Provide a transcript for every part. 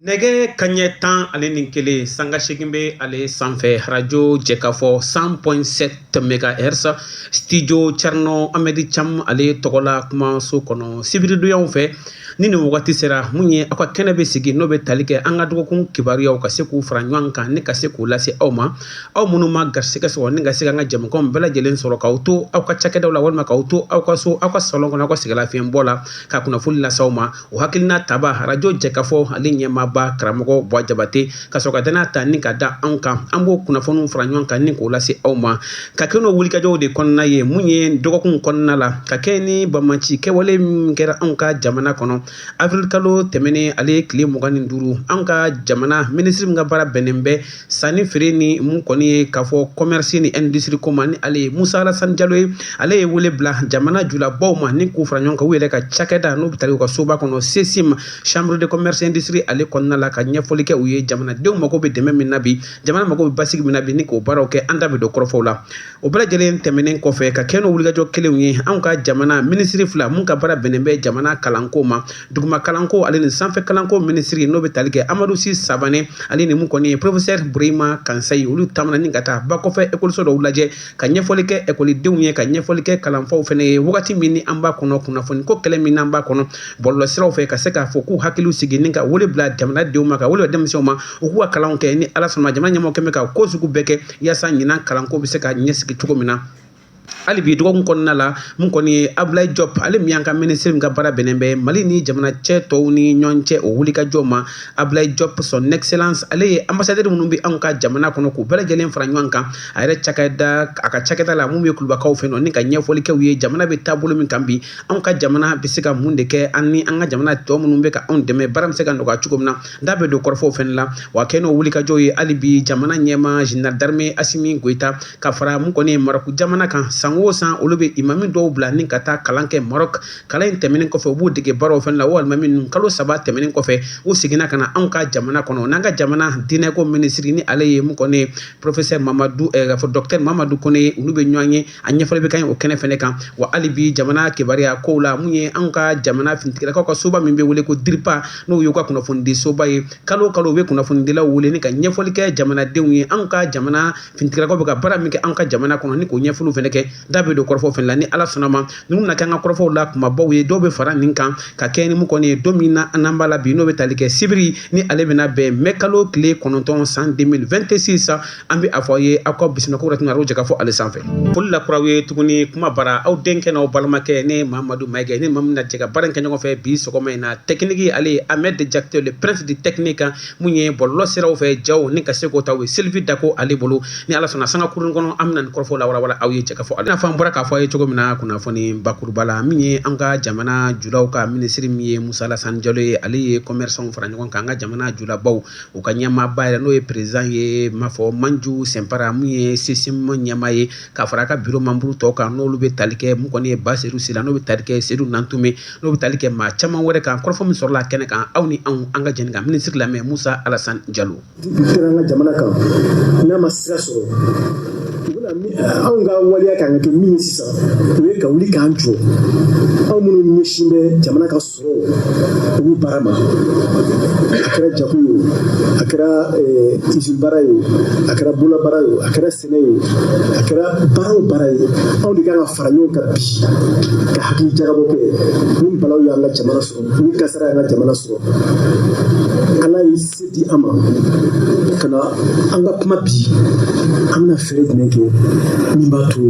Nɛgɛ kanɲɛ tan ale ni kelen sanga seegin bɛ ale sanfɛ arajo Jɛkafɔ cent point sept mégahertz studio Thierno Ahmed Thiam ale tɔgɔ la kumaso kɔnɔ sibiridonyaw fɛ ni nin wagati sera mun ye aw ka kɛnɛ bɛ sigi n'o bɛ tali kɛ an ka dɔgɔkun kibaruyaw ka se k'u fara ɲɔgɔn kan ni ka se k'u lase aw ma aw minnu ma garisɛgɛ sɔrɔ ni ka se an ka jɛmukanw bɛɛ lajɛlen sɔrɔ k'aw to aw ka cakɛdaw la walima k'aw to aw ka so aw ka salon kɔnɔ aw ka sɛgɛnlafiɲɛbɔ la ka kunnafoni lase aw ma o hakilina tabaa arajo Jɛkafɔ ale ɲɛmaaba karamɔgɔ Buwa Jabate ka sɔrɔ ka dannaya ta ni ka da anw kan an b'o kunnafoniw fara ɲɔgɔn kan ni k'o lase aw ma ka kɛ n'o wulikajɔw de kɔnɔna ye mun ye dɔgɔkun kɔnɔna la ka kɛɲɛ ni bamaci kɛwale min kɛra anw ka jamana kɔnɔ awirilikalo tɛmɛnen ale tile mugan ni duuru an ka jamana minisiri min ka baara bɛnnen bɛ sanni feere ni mun kɔni ye k'a fɔ commerce ni industrie ko ma ni ale ye Musa Alasani Jalo ye ale ye wele bila jamana julabaw ma ni k'u fara ɲɔgɔn kan u yɛrɛ ka cakɛda n'o bɛ tali u ka soba kɔnɔ CCIM chambre de commerce industrie ale kɔnɔna la ka ɲɛfɔli kɛ u ye jamanadenw mago bɛ dɛmɛ min na bi jamana mago bɛ basigi min na bi ni k'o baaraw kɛ an da bɛ don kɔrɔfɔw la o bɛɛ lajɛlen tɛmɛnen kɔfɛ ka kɛ n'o wulikajɔ kelenw ye anw ka jamana minisiri fila mun ka baara bɛnnen bɛ jamana kalanko ma duguma kalanko ale ni sanfɛ kalanko minisiri n'o bɛ tali kɛ amadu si sabanɛ ale ni mun kɔni ye professeur Burema kansayi olu taamana ni ka taa ba kɔfɛ ekɔliso dɔw lajɛ ka ɲɛfɔli kɛ ekɔlidenw ye ka ɲɛfɔli kɛ kalanfaw fɛnɛ ye wagati min ni an b'a kɔnɔ kunnafoni ko kɛlɛ min n'an b'a kɔnɔ bɔlɔlɔ siraw fɛ ka se k'a fɔ k'u hakiliw sigi ni ka wele bila jamanadenw ma ka wele denmisɛnw ma u k'u ka kalanw kɛ ni ala sɔnna jamana ɲɛmɔgɔ kɛmɛ ka ko sugu bɛɛ kɛ yaasa ɲinan kalanko bɛ se ka ɲɛsigi cogo min na hali bi dɔgɔkun kɔnɔna la mun kɔni ye abulayi jɔp ale min y'an ka minisiri min ka baara bɛnnen bɛ mali ni jamana cɛ tɔw ni ɲɔgɔn cɛ o wulikajɔ ma abulayi jɔp son excellence ale ye ambasadɛri minnu bɛ anw ka jamana kɔnɔ k'u bɛɛ lajɛlen fara ɲɔgɔn kan a yɛrɛ cakɛda a ka cakɛda la mun bɛ kulubakaw fɛ nɔ ni ka ɲɛfɔli kɛ u ye jamana bɛ taabolo min kan bi anw ka jamana bɛ se ka mun de kɛ an ni an ka jamana tɔ minnu bɛ ka anw dɛmɛ baara bɛ se ka nɔgɔya cogo min na n da bɛ don kɔrɔfɔw fɛnɛ la wa kɛ n'o wulikajɔ ye hali bi jamana ɲɛmaa général d'armée Asimi Goyita ka fara mun kɔni ye Marɔku jamana kan san o san olu bɛ imami dɔw bila ni ka taa kalan kɛ Marɔku kalan in tɛmɛnen kɔfɛ u b'u dege baaraw fɛnɛ la wa alimami ninnu kalo saba tɛmɛnen kɔfɛ u seginna ka na anw ka jamana kɔnɔ n'an ka jamana diinɛko minisiri ni ale ye mun kɔni ye professeur mamadu fɔ docteur mamadu Kɔnɛ olu bɛ ɲɔgɔn ye a ɲɛfɔli bɛ kɛ o kɛnɛ fɛnɛ kan wa hali bi jamana kibaruyakow la mun ye an ka jamana finitigilakaw ka soba min bɛ wele ko DIRPA n'o y'u ka kunnafonidisoba ye kalo o kalo u bɛ kunnafonidilaw wele ni ka ɲɛfɔli kɛ jamanadenw ye an ka jamana finitigilakaw bɛ ka baara min kɛ an ka jamana kɔnɔ ni k'o ɲɛfɔliw fɛnɛ kɛ da bɛ don kɔrɔfɔw fɛnɛ la ni ala sɔnna a ma ninnu na kɛ an ka kɔrɔfɔw la kunbabaw ye dɔw bɛ fara nin kan ka kɛ ni mun kɔni ye don min na n'an b'a la bi n'o bɛ tali kɛ sibiri ni ale bɛna bɛn mɛ kalo tile kɔnɔntɔn san deux mille vingt-six an bɛ a fɔ aw ye aw ka bisimila kura tun jɛkafɔ ale sanfɛ foli lakura aw ye tuguni kuma bara aw denkɛ n'aw balimakɛ ne mamadu mayiga ni maa min na jɛ ka baara in kɛ ɲɔgɔn fɛ bi sɔgɔma in na technique ale ye ahmed jakite le prince du technique min ye bɔlɔlɔ siraw fɛ ja ni ka se k'o ta aw ye sylvie dako ale bolo ni ala sɔnna sanga kurun kɔnɔ an bɛna nin kɔrɔfɔ lawalawala aw ye jɛkafɔ ale n'a fɔ an bɔra k'a fɔ aw ye cogo min na kunnafoni bakuruba la min ye an ka jamana julaw ka minisiri min ye musa alasani jalo ye ale ye commerçants fara ɲɔgɔn kan an ka jamana julabaw u ka ɲɛmaaba yɛrɛ n'o ye président ye m'a fɔ manju sɛnpara min ye sesim ɲɛmaa ye ka fara a ka bureau membre tɔw kan n'olu bɛ tali kɛ min kɔni ye baseyidu sila n'o bɛ tali kɛ seyidu nantume n'o bɛ tali kɛ maa caman wɛrɛ kan kɔrɔfɔ min sɔrɔla kɛnɛ kan aw ni anw an ka jɛ ka minisiri lamɛn musa alasani jalo jamana kan n'a ma sira sɔrɔ anw ka waleya kan ka kɛ min ye sisan o ye ka wuli k'an jɔ anw minnu ɲɛsin bɛ jamana ka u b'u baara ma a kɛra jago ye o a kɛra izini baara ye o a kɛra bolola baara ye o a kɛra sɛnɛ ye o a kɛra baara o baara ye anw de kan ka fara ɲɔgɔn kan bi ka hakili jagabɔ kɛ ni balawu y'an ka jamana sɔrɔ ni kasara y'an ka jamana sɔrɔ ala ye se di an ma ka na an ka kuma bi an bɛna fɛɛrɛ jumɛn kɛ min b'a to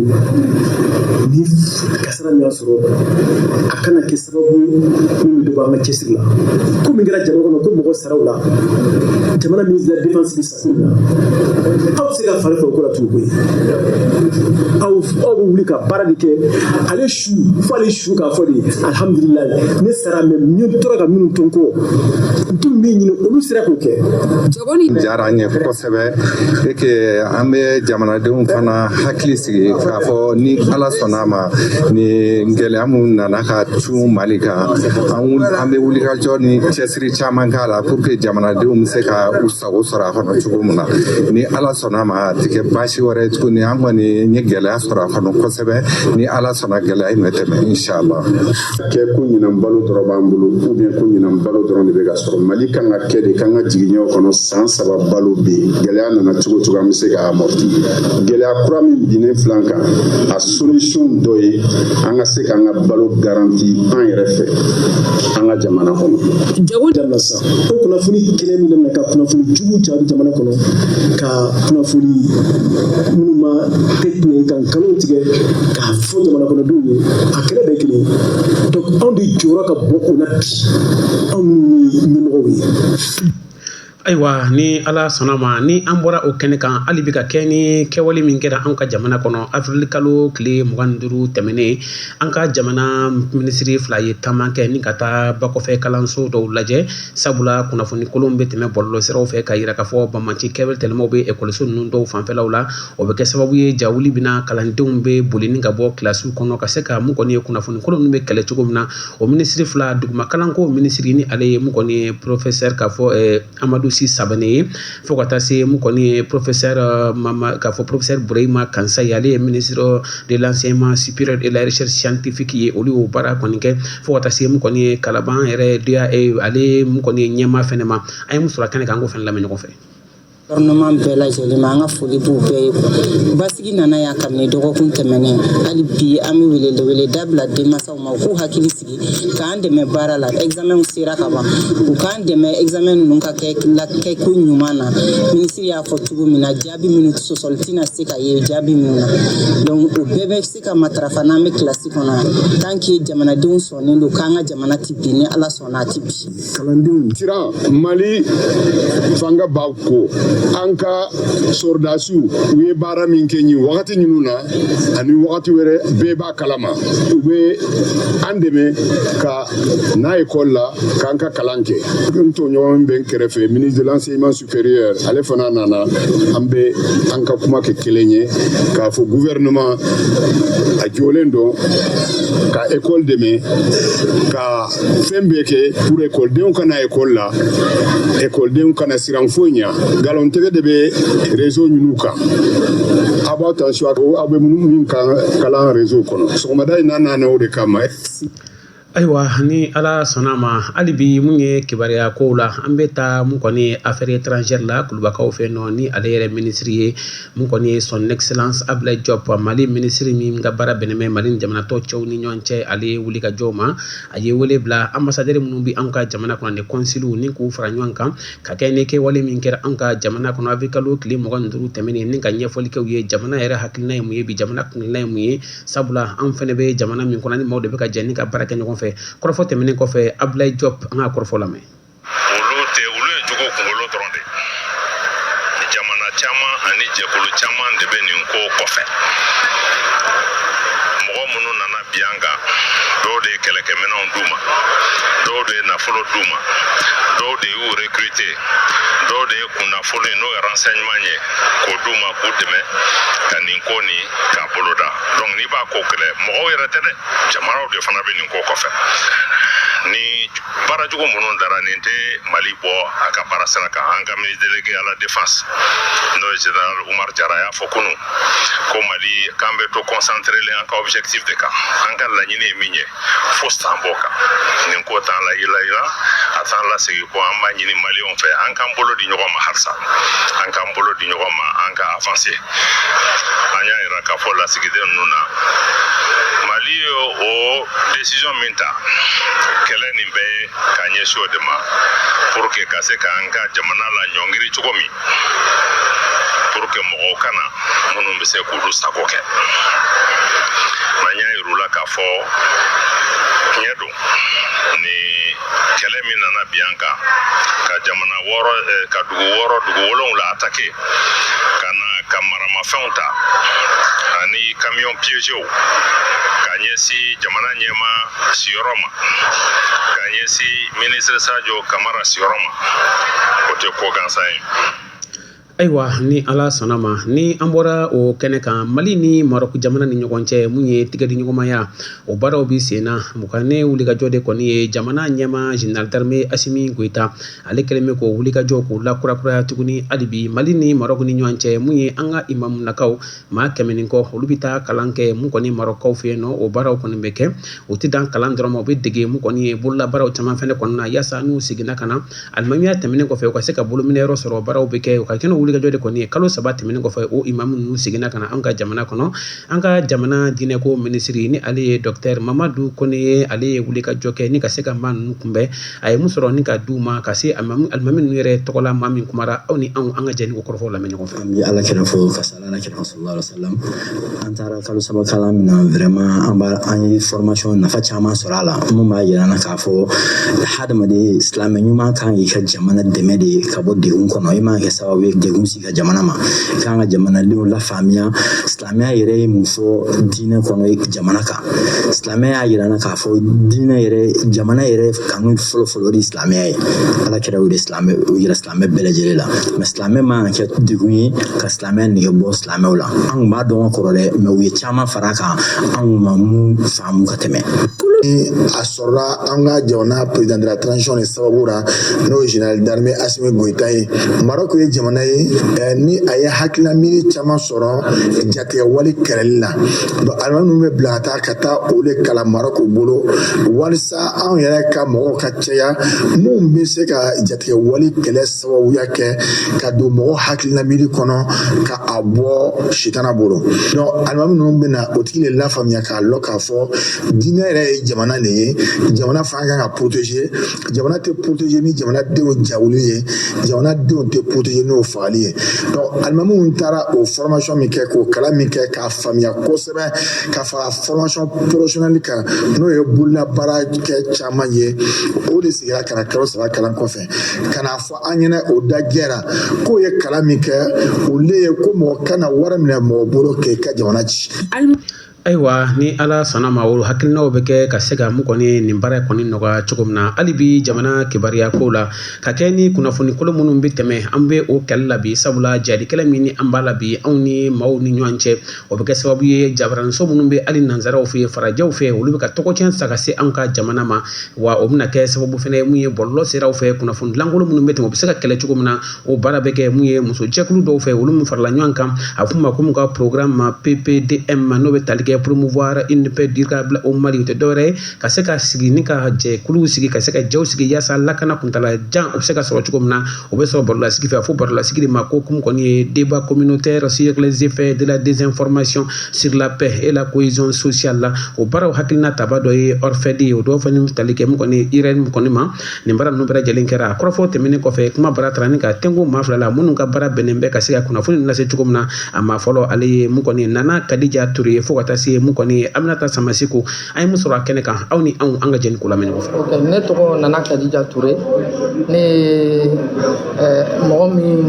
ni sara min y'a sɔrɔ a kana kɛ sababu ye min bɛ dɔ bɔ an ka cɛsiri la ko min kɛra jamana kɔnɔ ko mɔgɔ sara a la jamana ministre de la défense bɛ sa ko min na aw bɛ se ka fari faga o ko la tugun koyi aw aw bɛ wuli ka baara de kɛ ale su fo ale su k'a fɔ de alihamudulilayi ne sara mais ne taara ka minnu to n kɔ n tun bɛ min ɲini olu sera k'o kɛ jagoni diyara an ye sɛbɛ et que an bɛ jamanadenw fana hakili sigi k'a fɔ ni ala sɔnna ma ni gɛlɛya minnu nana ka cun mali kan an bɛ wulikajɔ ni cɛsiri caman k'a la pour que jamanadenw bɛ se ka u sago sɔrɔ a kɔnɔ cogo min na ni ala sɔnna ma a tɛ kɛ baasi wɛrɛ tuguni an kɔni ye gɛlɛya sɔrɔ a kɔnɔ kosɛbɛ ni ala sɔnna gɛlɛya in bɛ tɛmɛ inshallah kɛ ko ɲinan balo dɔrɔn b'an bolo ou bien ko ɲinan balo dɔrɔn de bɛ ka sɔrɔ mali kan ka kɛ de k'an ka jigiɲɛw kɔnɔ san saba balo bɛ yen gɛlɛya nana cogo cogo an bɛ se k'a amorti gɛlɛya kura min binnen filan kan a solisiyon dɔ ye an ka se k'an ka balo garanti an yɛrɛ fɛ an ka jamana kɔnɔ jago dabila sa o kunnafoni kelen min na ka kunnafoni jugu cari jamana kɔnɔ ka kunnafoni minnu ma tɛ tiɲɛ kan nkalon tigɛ a fɔ jamanakɔnɔdenw ye a kɛlɛ bɛɛ kelen donc anw de jɔyɔrɔ ka bon o la bi anw minnu ye ɲɛmɔgɔw ye ayiwa ni ala sɔnna ma ni an bɔra o kɛnɛ kan hali bi ka kɛ ni kɛwale min kɛra an ka jamana kɔnɔ afirili kalo tile mugan ni duuru tɛmɛnen an ka jamana minisiri fila ye taama kɛ ni ka taa bakɔfɛ kalanso dɔw lajɛ sabula kunnafoni kolon bɛ tɛmɛ bɔlɔlɔsiraw fɛ ka yira k'a fɔ banbaanci kɛwale tɛlɛmaw bɛ ekɔliso ninnu dɔw fanfɛlaw la o bɛ kɛ sababu ye jawuli bɛ na kalandenw bɛ boli ni ka bɔ kilasiw kɔnɔ ka se ka mun kɔni ye kunnafonikolon ninnu bɛ kɛlɛ cogo min na o minisiri fila dugumakalanko minisiri ni ale ye mun kɔni ye porofesɛri k'a fɔ amadu si savane ye fo ka taa se mun kɔni ye porofesɛri mama k'a fɔ porofesɛri burema kansaye ale ye ministre de l'enseignement supérieur et la recherche scientifique ye olu y'o baara kɔni kɛ fo ka taa se mun kɔni ye kalaban yɛrɛ ale mun kɔni ye ɲɛmaa fana ma an ye mun sɔrɔ kɛnɛ kan an k'o fana lamɛn ɲɔgɔn fɛ gouvernement bɛɛ lajɛlen ma an ka foli b'u bɛɛ ye basigi nana yan kabini dɔgɔkun tɛmɛnen hali bi an bɛ weleweleda bila denmansaw ma u k'u hakili sigi k'an dɛmɛ baara la examenw sera ka ban u k'an dɛmɛ examen ninnu ka kɛ kɛko ɲuman na minisiri y'a fɔ cogo min na jaabi minnu sɔsɔli tɛna se ka ye jaabi minnu na donc o bɛɛ bɛ se ka matarafa n'an bɛ kilasi kɔnɔ yan tant que jamanadenw sɔnnen don k'an ka jamana tɛ bin ni ala sɔnna a tɛ bin kalandenw siran mali fanga b'a kɔ an ka sɔrɔdasiw u ye baara min kɛ nin wagati ninnu na ani wagati wɛrɛ bɛɛ b'a kalama u bɛ an dɛmɛ ka na ekɔli la k'an ka kalan kɛ n tɔɲɔgɔn bɛ n kɛrɛfɛ ministre de l'enseignement supérieur ale fana nana an bɛ an ka kuma kɛ kelen ye k'a fɔ gouvernement a jɔlen don ka école dɛmɛ ka fɛn bɛɛ kɛ pour ekɔlidenw ka na ekɔli la ekɔlidenw kana siran foyi ɲɛ nkalontigɛ de bɛ réseau ninnu kan a b'aw attention aw bɛ min kalan réseau kɔnɔ sɔgɔmada in na nana o de kama Ayiwa ni ala sɔnna a ma hali bi mun ye kibaruya kow la an bɛ taa mun kɔni ye affaires étrangères la kulubakaw fɛ nɔ ni ale yɛrɛ minisiri ye mun kɔni ye son excellence abulayi jɔpu mali minisiri min ka baara bɛnnen bɛ mali ni jamana tɔw cɛ ni ɲɔgɔn cɛ ale ye wulikajɔ ma a ye wele bila ambassadeur minnu bɛ an ka jamana kɔnɔ ni consul ni k'u fara ɲɔgɔn kan ka kɛ ni kɛwale min kɛra an ka jamana kɔnɔ afirili kalo tile mugan ni duuru tɛmɛnen ni ka ɲɛfɔli kɛ u ye jamana yɛrɛ hakilina ye mun ye bi jamana kunna ye mun ye sabula anw fana bɛ jamana min kɔnɔ ni maaw de bɛ ka jɛ ni ka baara kɛ ɲɔgɔn fɛ kɔrɔfɔ tɛmɛnen kɔfɛ abulayi jɔpu an ka kɔrɔfɔ lamɛn olu tɛ olu ye jugu kunkolo dɔrɔn de jamana caman ani jɛkulu caman de bɛ nin ko kɔfɛ mɔgɔ minnu nana bin an kan dɔw de ye kɛlɛkɛminɛnw d'u ma dɔw de ye nafolo d'u ma dɔw de y'u recruter dɔw de ye kunnafoni n'o ye renseignement ye k'o d'u ma k'u dɛmɛ ka nin ko nin k'a boloda donc n'i b'a ko kɛlɛ mɔgɔw yɛrɛ tɛ dɛ jamanaw de fana bɛ nin ko kɔfɛ ni baara jugu minnu dara nin tɛ mali bɔ a ka baara sira kan an ka ministre délégué à la défense n'o ye général umar jara y'a fɔ kunu ko mali k'an bɛ to concentré len an ka objectif de kan an ka laɲini ye min ye fosi t'an bɔ kan nin ko t'an layilayila a t'an lasegin kɔ an b'a ɲini maliyɛnw fɛ an k'an bolo di ɲɔgɔn ma halisa an k'an bolo di ɲɔgɔn ma an ka avanse an y'a yira k'a fɔ lasigiden ninnu na mali ye o desizɔn min ta kɛlɛ nin bɛ ka ɲɛsin o de ma pour que ka se k'an ka jamana laɲɔngiri cogo min pour que mɔgɔw ka na minnu bɛ se k'olu sago kɛ n'an y'a yir'u la k'a fɔ tiɲɛ don ni kɛlɛ min nana bin an kan ka jamana wɔɔrɔ eh, ka dugu wɔɔrɔ dugu wolonwula atake ka na ka maramafɛnw ta ani kamiyɔn piyezew ka ɲɛsin jamana ɲɛmaa siyɔrɔ ma ka ɲɛsin minisiri sajo kamara siyɔrɔ ma o tɛ ko gansan ye ayiwa ni ala sɔnna ma ni an bɔra o kɛnɛ kan mali ni marɔku jamana ni ɲɔgɔn cɛ mun ye tigɛdiɲɔgɔnmaya o baaraw bi sen na mu kɔni wulikajɔ de kɔni ye jamana ɲɛmaa général d'armée asimi goyita ale kɛlen bɛ k'o wulikajɔ k'o lakurakuraya tuguni hali bi mali ni marɔku ni ɲɔgɔn cɛ mun ye an ka imamunakaw maa kɛmɛ ni kɔ olu bɛ taa kalan kɛ mu kɔni marɔkukaw fɛ yen o baaraw kɔni bɛ kɛ o tɛ dan kalan dɔrɔn ma u bɛ dege mu kɔni ye bololabaaraw caman fana kɔnɔna na yaasa n'u seginna ka na alimamiya tɛmɛnen kɔfɛ u ka se ka bolo minɛ yɔrɔ sɔrɔ baaraw bɛ kɛ u ka kɛnɛ wulikajɔ de kɔni ye kalo saba tɛmɛnen kɔfɛ imamu ninnu seginna ka na an ka jamana kɔnɔ an ka jamana diinɛko minisiri ni ale ye docteur mamadu kɔnɛ ye ale ye wulikajɔ kɛ ni ka se ka maa ninnu kunbɛn a ye mun sɔrɔ ni ka d'u ma ka se alimami ninnu yɛrɛ tɔgɔla maa min kumara aw ni anw ka jɛ ni k'o kɔrɔfɔw lamɛn ɲɔgɔn fɛ an bɛ ala kira fo ka sali ala kira sallallahu alaihi wasallam an taara kalo saba kalan min na vraiment an ye formation nafa caman sɔrɔ a la minnu b'a jira na k'a fɔ hadamaden silamɛ ɲuman kan k'i ka jamana dɛmɛ de ka bɔ degun kɔnɔ i man kɛ sababu ye degun sigi ka jamana ma i kan ka jamanadenw lafaamuya silamɛya yɛrɛ ye mun fɔ diinɛ kɔnɔ jamana kan silamɛya y'a yira na k'a fɔ diinɛ yɛrɛ jamana yɛrɛ kanu fɔlɔfɔlɔ de silamɛya ye ala kira o de silamɛ o yira silamɛ bɛɛ lajɛlen la mais silamɛ man kan kɛ degun ye ka silamɛya nege bɔ silamɛw la an kun b'a dɔn ka kɔrɔ dɛ mais u ye caman fara kan an kun ma mun faamu ka tɛmɛ sɔrɔla an ka jamana président de la transition de sababu ra n'o ye général d'armée asimi goyita ye marɔk ye jamana ye eh, ni a ye hakilila miiri caman sɔrɔ jatigɛwale kɛlɛli la donc alimami ninnu bɛ bila ka taa ka taa o de kalan marɔk bolo walisa anw yɛrɛ ka mɔgɔw ka caya minnu bɛ se ka jatigɛwale kɛlɛ sababuya kɛ ka don mɔgɔ hakilina miiri kɔnɔ ka a bɔ sitana bolo donc alimami ninnu bɛna o tigi de lafaamuya k'a lɔn k'a fɔ diinɛ yɛrɛ ye jamana de ye jamana fana kan ka protéger jamana tɛ protéger ni jamanadenw jawuli ye jamanadenw tɛ protéger n'o fagali ye donc alimamiw taara o formation min kɛ k'o kalan min kɛ k'a faamuya kosɛbɛ ka fara formation professionnelle kan n'o ye bololabaara kɛ caman ye o de sigira ka na kalo saba kalan kɔfɛ ka na fɔ an ɲɛna o da jɛra k'o ye kalan min kɛ o le ye ko mɔgɔ kana wari minɛ mɔgɔ bolo k'i ka jamana ci ayiwa ni ala sɔnna ma o hakilinaw bɛ kɛ ka se ka mun kɔni nin baara kɔni nɔgɔya cogo min na hali bi jamana kibaruya ko la ka kɛ ni kunnafoni kolon minnu bɛ tɛmɛ an bɛ o kɛlɛ la bi sabula jadikɛlɛ min ni an b'a la bi anw ni maaw ni ɲɔgɔn cɛ o bɛ kɛ sababu ye jabaranso minnu bɛ hali nansaraw fɛ yen farajɛw fɛ yen olu bɛ ka tɔgɔ cɛn sa ka se an ka jamana ma wa o bɛna kɛ sababu fana ye mun ye bɔlɔlɔ siraw fɛ kunnafonidi lankolon minnu bɛ tɛmɛ o bɛ se ka kɛlɛ cogo min na o baara bɛ kɛ mun ye musojɛkulu dɔw fɛ olu min farala ɲɔgɔn kan a f'u ma ko mun ka programme ma ppdm ma n'o bɛ tali kɛ promouvoir une paix durable au mali o tɛ dɔwɛrɛ ye ka se ka sigi ni ka jɛkuluw sigi ka se ka jɛw sigi yaasa lakana kuntala jan o bɛ se ka sɔrɔ cogo min na o bɛ sɔrɔ barolasigi fɛ a fɔ barolasigi de ma ko mun kɔni ye débat communautaire sur les effets de la désinformation sur la paix et la cohésion sociale la o baaraw hakilina tabaa dɔ ye orfed ye o dɔw fana tali kɛ mun kɔni eirene kɔni ma nin baara ninnu bɛɛ lajɛlen kɛra a kɔrɔfɔ tɛmɛnen kɔfɛ kumabara taara ni ka tɛnko maa fila la minnu ka baara bɛnnen bɛ ka se ka kunnafoni lase cogo min na a maa fɔlɔ ale ye mun kɔni nana kadija ture ye fo ka taa se mun kɔni aminata samaseku an ye min sɔrɔ a kɛnɛ kan aw ni anw an ka jɛ ni k'o lamɛn ɲɔgɔn fɛ. ok ne tɔgɔ nana kadija ture ne ye eh, mɔgɔ min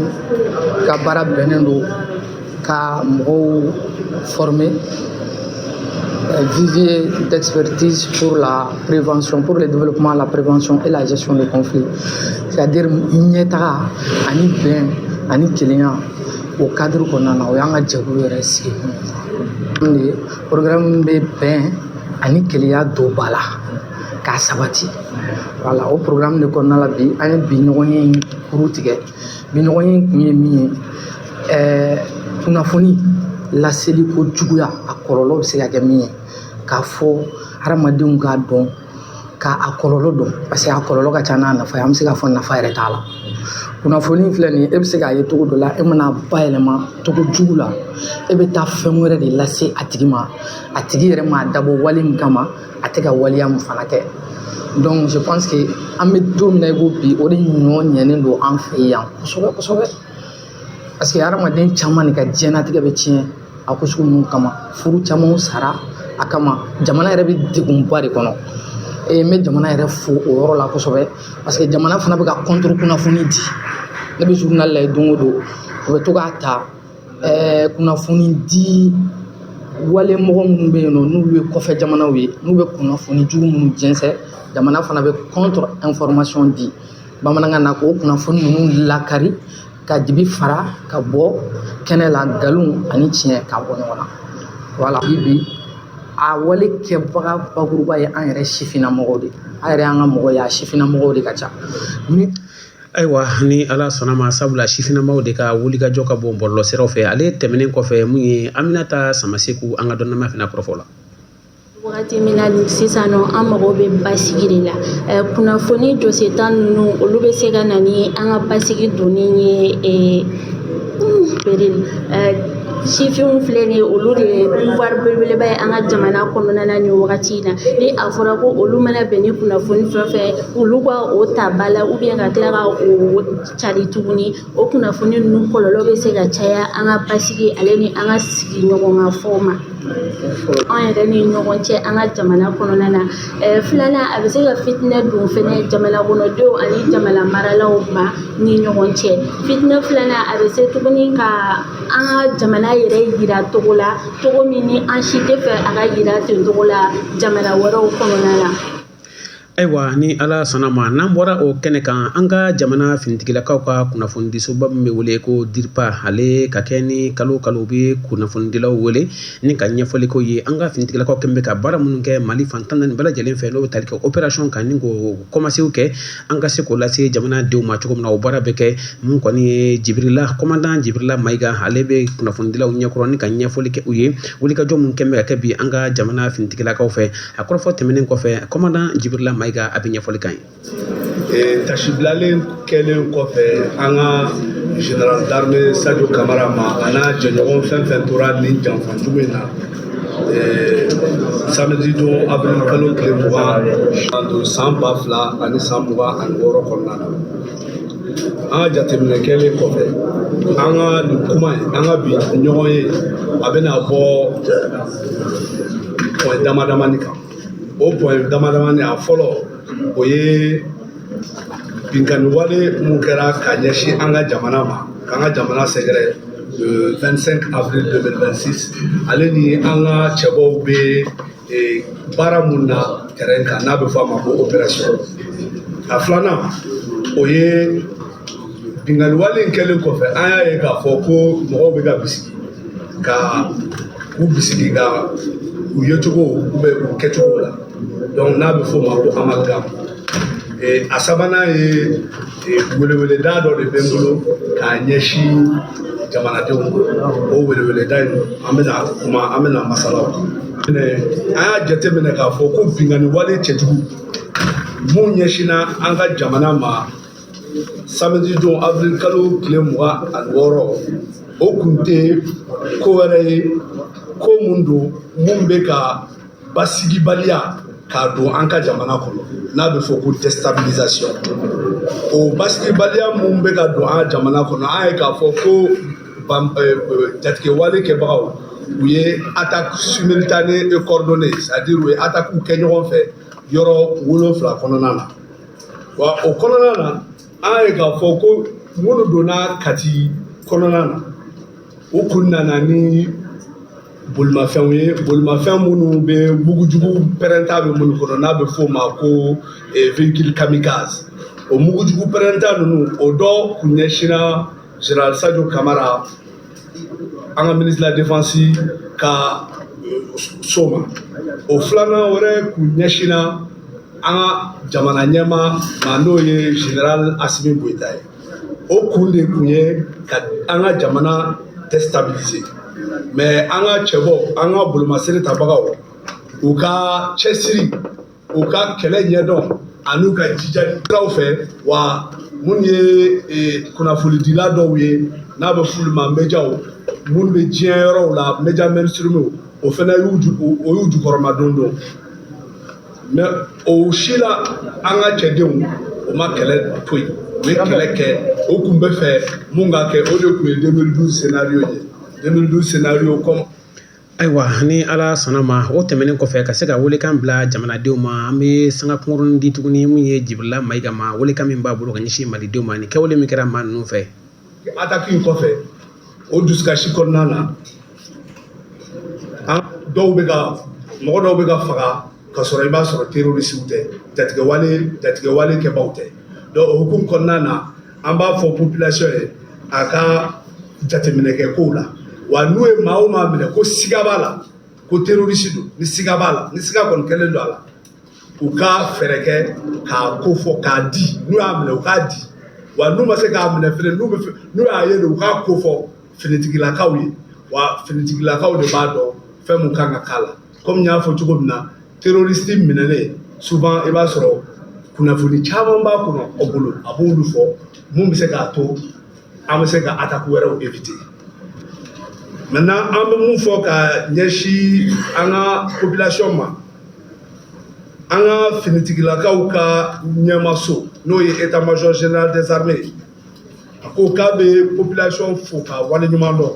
ka baara bɛnnen don ka mɔgɔw former eh, vivier d'expertise pour la prévention, pour le développement, la prévention et la gestion des conflits. C'est-à-dire ɲɛtaga ani bɛn ani kelenya o cadre kɔnɔna na o y'an ka jɛkulu yɛrɛ sigi kun ye. programme bɛ bɛn ani kelenya don ba la k'a sabati voilà o programme de kɔnɔna la bi an ye bi ɲɔgɔnye in kuru tigɛ bi ɲɔgɔnye in kun ye min ye ɛɛ kunnafoni laseli ko juguya a kɔlɔlɔ bɛ se ka kɛ min ye k'a fɔ hadamadenw k'a dɔn ka a kɔlɔlɔ dɔn parce que a kɔlɔlɔ ka ca n'a nafa ye an bɛ se k'a fɔ nafa yɛrɛ t'a la kunnafoni filɛ nin ye e bɛ se k'a ye cogo dɔ la e man'a bayɛlɛma cogo jugu la e bɛ taa fɛn wɛrɛ de lase a tigi ma a tigi yɛrɛ m'a dabɔ wale min kama a tɛ ka waleya min fana kɛ donc je pense que an bɛ don min na i ko bi o de ɲɔ ɲɛnen don an fɛ yan kosɛbɛ kosɛbɛ parce que hadamaden caman de ka diɲɛnatigɛ bɛ tiɲɛ a ko sugu ninnu kama furu caman sara a kama jamana yɛrɛ bɛ degunba de kɔnɔ e n bɛ jamana yɛrɛ fo o yɔrɔ la kosɛbɛ parce que jamana fana bɛ ka contre kunnafoni di ne bɛ journal lajɛ don o don u bɛ to k'a ta ɛɛ kunnafoni di wale mɔgɔ minnu bɛ yen nɔ n'olu ye kɔfɛ jamanaw ye n'u bɛ kunnafoni jugu minnu jɛnsɛn jamana fana bɛ contre information di bamanankan na k'o kunnafoni ninnu lakari ka dibi fara ka bɔ kɛnɛ la nkalon ani tiɲɛ ka bɔ ɲɔgɔn na voilà bi bi a wale kɛbaga bakuruba ye an yɛrɛ sifinnamɔgɔw de an yɛrɛ an ka mɔgɔ ye a sifinnamɔgɔw de ka ca ayiwa ni ala sɔnna ma sabula sifinnamɔgɔw de ka wulikajɔ ka bon bɔlɔlɔsiraw fɛ ale tɛmɛnen kɔfɛ mun ye Aminata Samaseku an ka dɔnnama fana kɔrɔfɔla Wagati min na ni sisan nɔ an mago bɛ basigi de la kunnafoni jɔsentan ninnu olu bɛ se ka na ni an ka basigi donni ye bari sifinw filɛ nin ye olu de ye pouvoir belebeleba ye an ka jamana kɔnɔna na ni wagati in na ni a fɔra ko olu mana bɛn ni kunnafoni fɛn fɛn olu ka o ta ba la ou bien ka tila ka o cari tuguni o kunnafoni ninnu kɔlɔlɔ bɛ se ka caya an ka basigi ale ni an ka sigiɲɔgɔnya fɔlɔ ma an yɛrɛ ni ɲɔgɔn cɛ an ka jamana kɔnɔna na filanan a bɛ se ka fitinɛ don fɛnɛ jamana kɔnɔdenw ani jamana maralaw ma ni ɲɔgɔn cɛ fitinɛ filanan a bɛ se tuguni ka an ka jamana yɛrɛ yira cogo la cogo min ni an si tɛ fɛ a ka yira ten cogo la jamana wɛrɛw kɔnɔna na Ayiwa ni ala sɔnna ma n'an bɔra o kɛnɛ kan an ka jamana finitigilakaw ka kunnafonidisoba min bɛ wele ko DIRPA ale ka kɛ ni kalo kalo bɛ kunnafonidilaw wele ni ka ɲɛfɔli k'u ye an ka finitigilakaw kɛlen bɛ ka baara minnu kɛ Mali fan tan ni bɛɛ lajɛlen fɛ n'o bɛ tali kɛ opération kan ni k'o kɔmasegin kɛ an ka se k'o lase jamanadenw ma cogo min na o baara bɛ kɛ min kɔni ye Jibirila commandant Jibirila Mayiga ale bɛ kunnafonidilaw ɲɛkɔrɔ ni ka ɲɛfɔli kɛ u ye wulikajɔ minnu kɛlen bɛ ka kɛ bi an ka jamana finitigilakaw fɛ A kɔrɔfɔ tɛmɛnen kɔfɛ commandant Jibirila Mayiga a bɛ ɲɛfɔli k'an ye. Ee taasibilalen kɛlen kɔfɛ an ka général d'armée Sajo Kamara ma a n'a jɛɲɔgɔn fɛn fɛn tora nin janfa jugu in na ee samedi don avril kalo tile mugan san ba fila ani san mugan ani wɔɔrɔ kɔnɔna na an ka jateminɛ kɛlen kɔfɛ an ka nin kuma in an ka bi ɲɔgɔnye a bɛna bɔ point damadamani kan o point damadamani a fɔlɔ o ye binkanni wale mun kɛra ka ɲɛsin an ka jamana ma k'an ka jamana sɛgɛrɛ le 25 avril 2026 ale ni an ka cɛbɔw bɛ ee baara mun na terrain kan n'a bɛ fɔ a ma ko opération a filanan o ye binkanni wale in kɛlen kɔfɛ an y'a ye k'a fɔ ko mɔgɔw bɛ ka bisigi ka u bisigi ka u yecogo u bɛ u kɛcogo la donc n'a bɛ f'o ma ko amalgame Ee, a sabanan ye ee, weleweleda dɔ de bɛ n bolo k'a ɲɛsin jamanadenw ma o weleweleda in an bɛna kuma an bɛna masala o kan. Ee, an y'a jateminɛ k'a fɔ ko binkanni wale cɛjugu mun ɲɛsinna an ka jamana ma samedi don avril kalo tile mugan ani wɔɔrɔ o kun tɛ ko wɛrɛ ye ko mun don mun bɛ ka basigibaliya k'a don an ka jamana kɔnɔ n'a bɛ fɔ ko déstabilisation o basigibaliya mun bɛ ka don an ka jamana kɔnɔ an ye k'a fɔ ko jatigɛwale kɛbagaw u ye attaque simultanée et coordonnée c'est-à-dire u ye attaque kɛ ɲɔgɔn fɛ yɔrɔ wolonfila kɔnɔna na wa o kɔnɔna na an ye k'a fɔ ko minnu donna kati kɔnɔna na u kun nana ni bolimafɛnw ye bolimafɛn minnu bɛ mugujugu pɛrɛnta bɛ minnu kɔnɔ n'a bɛ f'o ma ko eh, véhicule kamikaze o mugujugu pɛrɛnta ninnu o dɔ kun ɲɛsinna général sadio kamara an ka ministre de la défense ka eh, so ma o filanan wɛrɛ kun ɲɛsinna an ka jamana ɲɛmaa ma n'o ye général asimi goyita ye o kun de kun ye ka an ka jamana déstabiliser mais an ka cɛbɔ an ka bolomasiri tabagaw u ka cɛsiri u ka kɛlɛ ɲɛdɔn an'u ka jijali siraw fɛ wa minnu ye e, kunnafonidila dɔw ye n'a bɛ f'olu ma médiaw minnu bɛ diɲɛ yɔrɔw la média mainstream o fana y'u jukɔrɔmadondon mais o si la an ka cɛdenw o ma kɛlɛ to yen u ye kɛlɛ kɛ o kun b'a fɛ mun ka kɛ o de kun ye 2012 scénario ye 2012 scénario comme ayiwa ni ala sɔnna ma o tɛmɛnen kɔfɛ ka se ka welekan bila jamanadenw ma an bɛ sanga kunkurunnin di tuguni min ye jibirila mayiga ma welekan min b'a bolo ka ɲɛsin malidenw ma ni kɛwale min kɛra maa ninnu fɛ attaque in kɔfɛ o dusukasi kɔnɔna na an dɔw bɛ ka mɔgɔ dɔw bɛ ka faga ka sɔrɔ i b'a sɔrɔ terroristew tɛ jatigɛwale jatigɛwale kɛbaaw tɛ donc o hukumu kɔnɔna na an b'a fɔ population ye a ka jateminɛ kɛ kow la wa n'u ye maa o maa minɛ ko siga b'a la ko terroriste don ni siga b'a la ni siga kɔni kɛlen don a la u ka fɛɛrɛ kɛ k'a ko fɔ k'a di n'u y'a minɛ u k'a di wa n'u ma se k'a minɛ fɛnɛ n'u bɛ n'u y'a ye de u k'a ko fɔ finitigilakaw ye wa finitigilakaw de b'a dɔn fɛn mun kan ka k'a la kɔmi n y'a fɔ cogo min na terorisi minɛlen souvent i b'a sɔrɔ kunnafoni caman b'a kɔnɔ aw bolo a b'olu fɔ mun bɛ se k'a to an bɛ se ka attaque wɛrɛw éviter maintenant an bɛ mun fɔ ka ɲɛsin an ka population ma an ka finitigilakaw ka ɲɛmaso n'o ye état major général des armées a ko k'a bɛ population fo k'a waleɲuman dɔn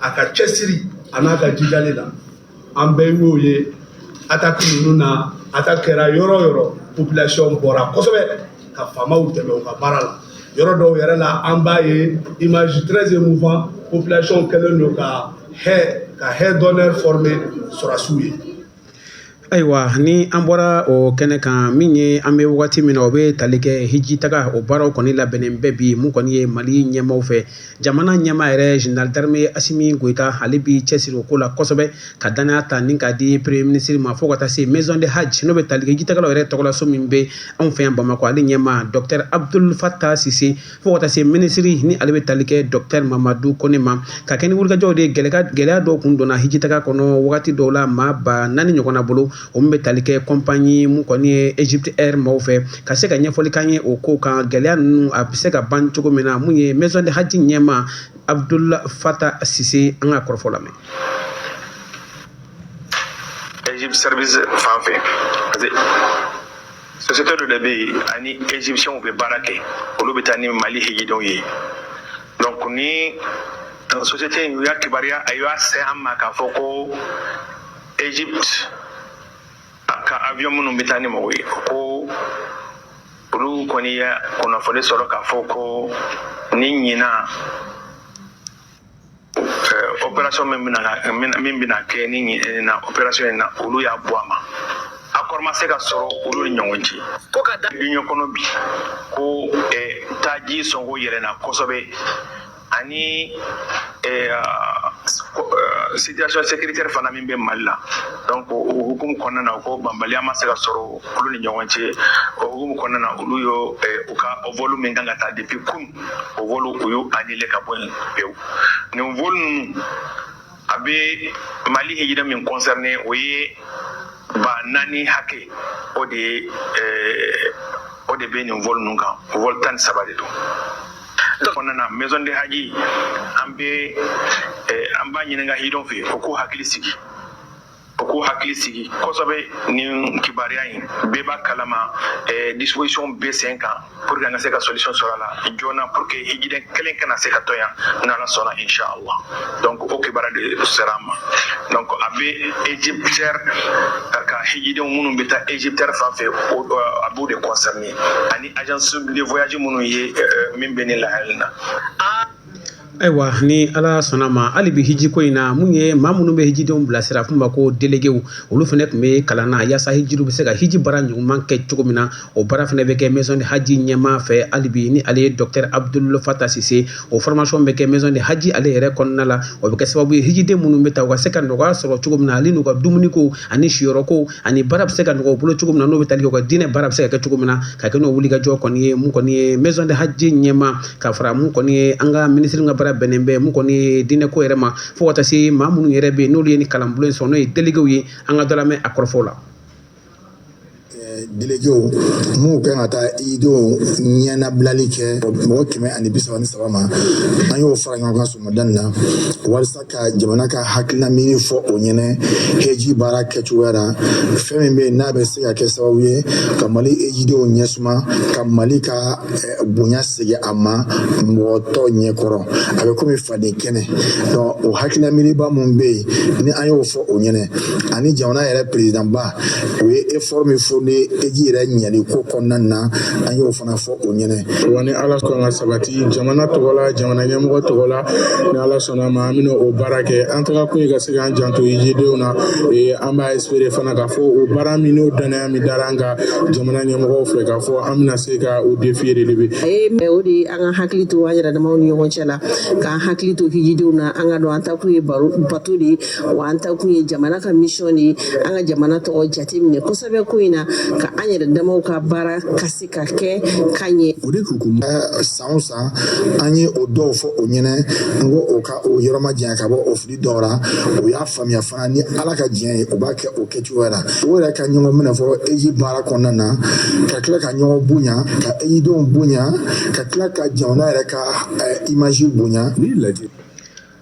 a ka cɛsiri an'a ka jijali la an bɛɛ y'o ye ataki ninnu na ataki kɛra yɔrɔ o yɔrɔ population bɔra kosɛbɛ ka faamaw dɛmɛ u ka baara la yɔrɔ dɔw yɛrɛ la an b'a ye image très émouvant population kɛlen don ka haie ka haie d'honneur former sɔrasiw ye ayiwa ni an bɔra o kɛnɛ kan min ye an bɛ wagati min na o bɛ tali kɛ hijitaga o baaraw kɔni labɛnnen bɛɛ bi mun kɔni ye mali ɲɛmaaw fɛ jamana ɲɛmaa yɛrɛ général d'armée asimi goyita ale bi cɛsiri o ko la kosɛbɛ ka danaya ta nin k'a di premier minisiri ma fo ka taa se maison de haji n'o bɛ tali kɛ hijitagalaw yɛrɛ tɔgɔlaso min bɛ anw fɛ yan bamakɔ ale ɲɛmaa dɔkitɛri abdul fata sise fo ka taa se minisiri ni ale bɛ tali kɛ dɔkitɛri mamadu kone ma ka kɛ ni wulikajɔw de ye gɛlɛya dɔw kun donna hijitaga kɔnɔ wagati dɔw la maa ba naani ɲɔgɔnna bolo o min bɛ tali kɛ kɔnpanyi mun kɔni ye egypte air maaw fɛ ka se ka ɲɛfɔli k'an ye o ko kan gɛlɛya ninnu a bɛ se ka ban cogo min na mun ye maison de haji ɲɛmaa abdul fata sise an k'a kɔrɔfɔ lamɛn egypte service fan fɛ sosiyete dɔ de bɛ yen ani ezipsiyɛnw bɛ baara kɛ olu bɛ taa ni mali hijidenw ye donc ni sosiyete in u y'a kibaruya a y'a se an ma k'a fɔ ko egypte ka avion minnu bɛ taa ni mɔgɔw ye ko olu kɔni ye kunnafoni sɔrɔ k'a fɔ ko ni ɲinan operation min bɛna ka min bɛna kɛ ni ɲinan operation in na olu y'a bɔ a ma accord ma se ka sɔrɔ olu ni ɲɔgɔn cɛ ko ka da duniya kɔnɔ bi ko taaji sɔngɔ yɛlɛnna kosɛbɛ ani situation sécuritaire fana min bɛ mali la donc o hukumu kɔnɔna na ko bɛnbaliya ma se ka sɔrɔ olu ni ɲɔgɔn cɛ o hukumu kɔnɔna na olu y'o u ka volu min kan ka taa depuis kun o volu u y'o anile ka bɔ yen pewu nin volu ninnu a bɛ mali hijiden min kɔnsɛrine o ye ba naani hakɛ o de ye eh, o de bɛ nin volu ninnu kan volu tan ni saba de don kɔnɔna na maison de haji an bɛ eh, an b'a ɲininka hijidenw fɛ u k'u hakili sigi o k'u hakili sigi kosɛbɛ nin kibaruya in bɛɛ b'a kalama eh, disposition bɛ sen kan pour que an ka se ka solution sɔrɔ a la joona pour que hijiden kelen kana se ka to yan n'ala sɔnna inshallah donc o kibaruya de sera an ma donc a bɛ EgyptAir ka hijidenw minnu bɛ taa EgyptAir fan fɛ a b'u de concerner ani agence de voyage minnu ye eh, min bɛ nin lahala in na Ayiwa ni ala sɔnna ma hali bi hijiko in na mun ye maa minnu bɛ hijidenw bilasira f'u ma ko déléguéw olu fana tun bɛ kalan na walasa hijiw bɛ se ka hiji baara ɲuman kɛ cogo min na o baara fana bɛ kɛ maison du hadj ɲɛmaa fɛ hali bi ni ale ye docteur Abdoul Fatah Sise o formation bɛ kɛ maison du hadj ale yɛrɛ kɔnɔna la o bɛ kɛ sababu ye hijiden minnu bɛ taa u ka se ka nɔgɔya sɔrɔ cogo min na ani n'u ka dumuni ko ani siyɔrɔko ani baara bɛ se ka nɔgɔya u bolo cogo min na n'o bɛ tali kɛ u ka diinɛ baara bɛ se ka kɛ cogo min na ka kɛ n'o wulikajɔ kɔni ye mun kɔni ye maison du hadj ɲɛmaa ka fara mun kɔni ye an ka minisiri ka baara bɛnnen bɛ mun kɔni ye diinɛko yɛrɛ ma fo ka taa se maa minnu yɛrɛ bɛ yen n'olu ye ni kalanbolo in sɔrɔ n'o ye déléguéw ye an ka dɔ lamɛn a kɔrɔfo la déléguéw minnu kan ka taa hijidenw ɲɛnabilali kɛ mɔgɔ kɛmɛ ani bi saba ni saba ma an y'o fara ɲɔgɔn kan sɔgɔmada in na walasa ka jamana ka hakilina miiri fɔ o ɲɛnɛ heji baara kɛcogoya la fɛn min bɛ yen n'a bɛ se ka kɛ sababu ye ka mali hejidenw ɲɛsuma ka mali ka eh, bonya segin a ma mɔgɔ tɔw ɲɛkɔrɔ a bɛ komi faden kɛnɛ donc o hakilina miiriba minnu bɛ yen ni an y'o fɔ o ɲɛnɛ ani jamana yɛrɛ perezidanba o ye effort min fourni heji yɛrɛ ɲɛli ko kɔnɔna na an y'o fana fɔ o ɲɛnɛ wa ni Ala sɔnna ka sabati jamana tɔgɔ la jamana ɲɛmɔgɔ tɔgɔ la ni Ala sɔnna ma an bɛna o baara kɛ an tagakun ye ka se k'an janto hijidenw na ee an b'a espérer fana k'a fɔ o baara min n'o danaya min dara an kan jamana ɲɛmɔgɔw fɛ k'a fɔ an bɛna se ka o défi relever a ye mɛ o de ye an ka hakili to an yɛrɛ damaw ni ɲɔgɔn cɛ la k'an hakili to hijidenw na an ka dɔn an takun ye baro bato de ye wa an takun ye jamana ka mission de ye an ka jamana tɔgɔ jate minɛ kosɛbɛ ko in na ka an yɛrɛ damaw ka baara ka se ka kɛ ka ɲɛ o de hukumu san o san an ye o dɔw fɔ o ɲɛnɛ n ko o ka o yɔrɔ ma janya ka bɔ o fili dɔw la o y'a faamuya fana ni ala ka diɲɛ ye o b'a kɛ o kɛcogoya la o yɛrɛ ka ɲɔgɔn minɛ fɔ heji baara kɔnɔna na ka tila ka ɲɔgɔn bonya ka hejidenw bonya ka tila ka jamana yɛrɛ ka image bonya ni ala jɛn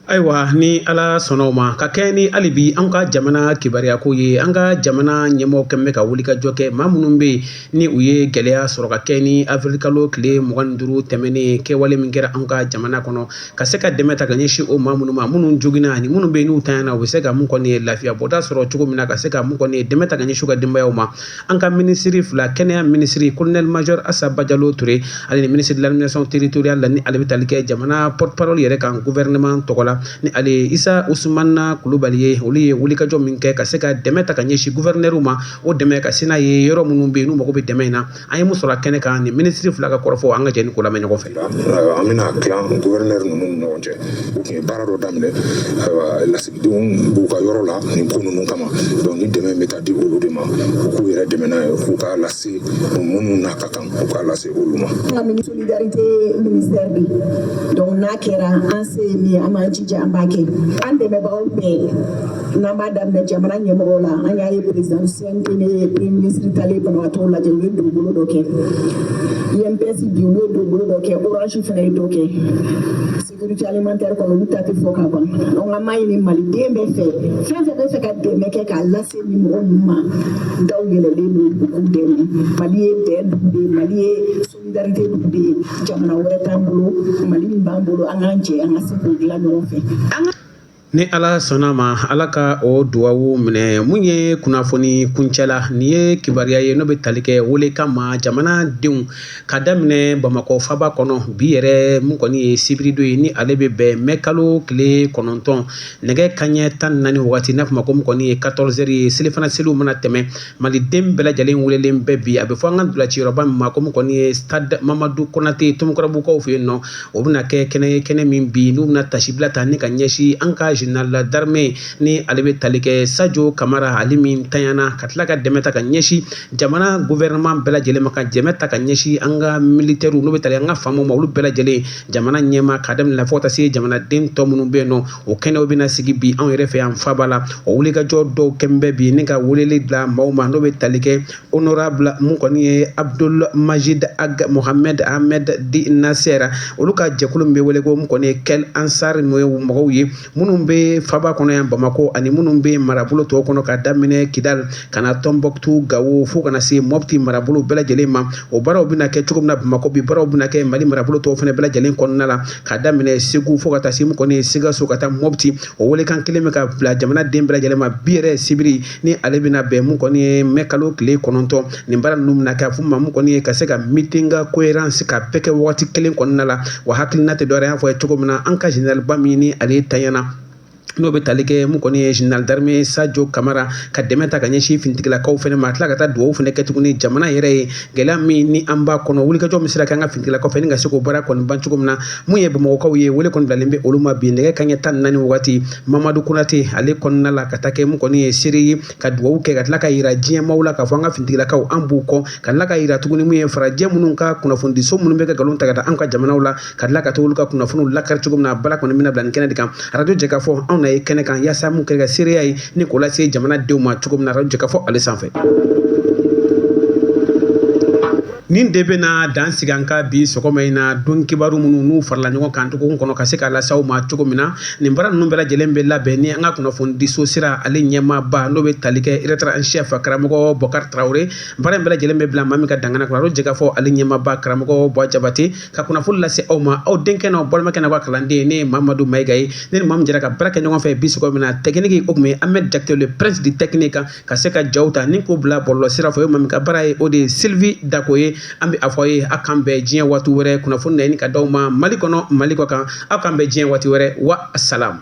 Ayiwa ni ala sɔnna ma ka kɛ ni hali bi an ka jamana kibaruya ko ye an ka jamana ɲɛmɔgɔ kɛlen bɛ ka wulikajɔ kɛ maa minnu bɛ yen ni u ye gɛlɛya sɔrɔ ka kɛ ni avril kalo tile mugan ni duuru tɛmɛnen kɛwale min kɛra an ka jamana kɔnɔ ka se ka dɛmɛ ta ka ɲɛsin o maa minnu ma minnu joginna ani minnu bɛ n'u tanyana u bɛ se ka mun kɔni ye lafiya bɔda sɔrɔ cogo min na ka se ka mun kɔni ye dɛmɛ ta ka ɲɛsin u ka denbayaw ma an ka minisiri fila kɛnɛya minisiri colonel major asa bajalo touré ale ni ministre de l'administration territoriale ni ale bɛ taali kɛ jamana porte-parole yɛrɛ kan gouvernement tɔgɔ la ni ale ye isa usmana kulubali ye olu ye wulikajɔ min kɛ ka se ka dɛmɛ ta ka ɲɛsin gouverneur ma o dɛmɛ ka se n'a ye yɔrɔ minnu bɛ yen n'u mago bɛ dɛmɛ in na an ye mun sɔrɔ kɛnɛ kan ni minisiri fila ka kɔrɔfɔ an ka jɛ ni k'o lamɛn ɲɔgɔn fɛ an bɛna tila gouverneur ninnu ni ɲɔgɔn cɛ u tun ye baara dɔ daminɛ denw b'u ka yɔrɔ la nin ko ninnu kama donc ni dɛmɛ bɛ ka di olu de ma u k'u yɛrɛ dɛmɛ n'a ye u k'a lase minnu n'a ka kan u k'a lase olu ma solidarité ministère de donc n'a kɛra an se ye min an b'an jija an b'a kɛ an dɛmɛbagaw bɛɛ n'an b'a daminɛ jamana ɲɛmɔgɔw la an y'a ye président CNT ni premier ministre taalen banabagatɔw lajɛ u ye dugukolo dɔ kɛ INPS bi u ye dugukolo dɔ kɛ orange fana ye dɔ kɛ Sécurité alimentaire kɔni olu ta tɛ fɔ ka ban donc an b'a ɲini maliden bɛɛ fɛ fɛn fɛn b'a fɛ ka dɛmɛ kɛ k'a lase nin mɔgɔ ninnu ma daw yɛlɛlen don u k'u dɛmɛ mali ye bɛn dugu de ye mali ye solidarité dugu de ye jamana wɛrɛ t'an bolo mali min b'an bolo an k'an jɛ an ka se k'o dilan ɲɔgɔn fɛ an ka ni ala sɔnna ma ala ka o duwawu minɛ mun ye kunnafoni kuncɛla nin ye kibaruya ye n'o bɛ tali kɛ welekan ma jamana denw ka daminɛ bamakɔ faba kɔnɔ bi yɛrɛ mun kɔni ye sibirido ye ni ale bɛ bɛn mɛ kalo tile kɔnɔntɔn nɛgɛ kanɲɛ tan naani waati n'a fɔ ma ko mun kɔni ye quatorze heures ye selifana seliw mana tɛmɛ Mali den bɛɛ lajɛlen welelen bɛ bi a bɛ fɔ an ka ntolaciyɔrɔba min ma ko min kɔni ye stade Mamadu Konate Tomikɔrɔbugukaw fɛ yen nɔ o bɛna kɛ kɛnɛ ye kɛnɛ min bi n'u bɛna tasibila ta ni ka ɲɛsin an ka général d'armée ni ale bɛ tali kɛ Sajo Kamara ale min tanyana ka tila ka dɛmɛ ta ka ɲɛsin jamana gouvernement bɛɛ lajɛlen ma ka dɛmɛ ta ka ɲɛsin an ka militaires n'u bɛ tali kɛ an ka faamaw ma olu bɛɛ lajɛlen jamana ɲɛmaa k'a daminɛ la fo ka taa se jamanaden tɔ minnu bɛ yen nɔ o kɛnɛw bɛna sigi bi anw yɛrɛ fɛ yan faba la o wulikajɔ dɔw kɛlen bɛ bi ni ka weleli bila maaw ma n'o bɛ tali kɛ honorable min kɔni ye abdoul majid ag mohamed ahmed dit nasser olu ka jɛkulu min bɛ wele ko mun kɔni ye kel ansar n'o ye mɔgɔw ye minnu bɛ faba kɔnɔ yan bamakɔ ani minnu bɛ marabolo tɔw kɔnɔ ka daminɛ kidali ka na tombouctou gawo fo ka na se mɔti marabolo bɛɛ lajɛlen ma o baaraw bɛna kɛ cogo min na bamakɔ bi baaraw bɛna kɛ mali marabolo tɔw fana bɛɛ lajɛlen kɔnɔna la ka daminɛ segu fo ka taa se mun kɔni ye sikaso ka taa mɔti o welekan kelen bɛ ka bila jamana den bɛɛ lajɛlen ma bi yɛrɛ sibiri ni ale bɛna bɛn mun kɔni ye mɛ kalo tile kɔnɔntɔn nin baara ninnu bɛna kɛ a fɔ ma mun kɔni ye ka se ka meeting conférence ka bɛɛ kɛ waati kelen kɔnɔna la wa hakilina tɛ dɔwɛrɛ y'a fɔ ye cogo min na an ka général ba min ni ale tanyana n'o bɛ tali kɛ mun kɔni ye général d'armée Sajo Kamara ka dɛmɛ ta ka ɲɛsin finitigilakaw fana ma ka tila ka taa dugawu fana kɛ tuguni jamana yɛrɛ ye gɛlɛya min ni an b'a kɔnɔ wulikajɔ min sera kɛ an ka finitigilakaw fɛ ni ka se k'o baara kɔni ban cogo min na mun ye Bamakɔkaw ye wele kɔni bilalen bɛ olu ma bi nɛgɛ kanɲɛ tan ni naani wagati Mamadu Konate ale kɔnɔna la ka taa kɛ mun kɔni ye seere ye ka dugawu kɛ ka tila ka yira diɲɛmaw la k'a fɔ an ka finitigilakaw an b'u kɔ ka tila ka yira tuguni mun ye farajɛ minnu ka kunnafonidiso minnu bɛ ka nkalon ta ka da an ka jamanaw la ka tila ka to olu ka kunnafoniw lakari cogo min na bala kɔni bɛna bila nin kɛnɛ de kan arajo Jɛkafɔ anw na ye kɛnɛ kan yaasa mun kɛ ka seereya ye ni k'o lase jamanadenw ma cogo min na arajo Jɛkafɔ ale sanfɛ nin de bɛna dan sigi an ka bi sɔgɔma in na don kibaru minnu n'u farala ɲɔgɔn kan cogo kɔnɔ ka se k'a las'aw ma cogo min na nin baara ninnu bɛɛ lajɛlen bɛ labɛn ni an ka kunnafonidiso sira ale ɲɛmaaba n'o bɛ tali kɛ rédacteur en chef karamɔgɔ Bɔkari Tarawele baara in bɛɛ lajɛlen bɛ bila maa min ka dangana kɔnɔ arajo Jɛkafɔ ale ɲɛmaaba karamɔgɔ Buwa Jabate ka kunnafoni lase aw ma aw denkɛ n'aw balimakɛ n'aw ka kalanden ne ye Mamadu Mayiga ye ne ni maa min jɛra ka baara kɛ ɲɔgɔn fɛ bi sɔgɔma in na technique o tun ye Ahmed Jakite le prince du technique kan ka se ka jaw ta ni k'o bila bɔlɔlɔ sira fɛ o ye maa min ka baara ye o de ye Sylvie Dako ye an bɛ a fɔ aw ye aw k'an bɛn diɲɛ waati wɛrɛ kunnafoni na ɲini ka d'aw ma Mali kɔnɔ Mali kɔkan aw k'an bɛn diɲɛ waati wɛrɛ wa salam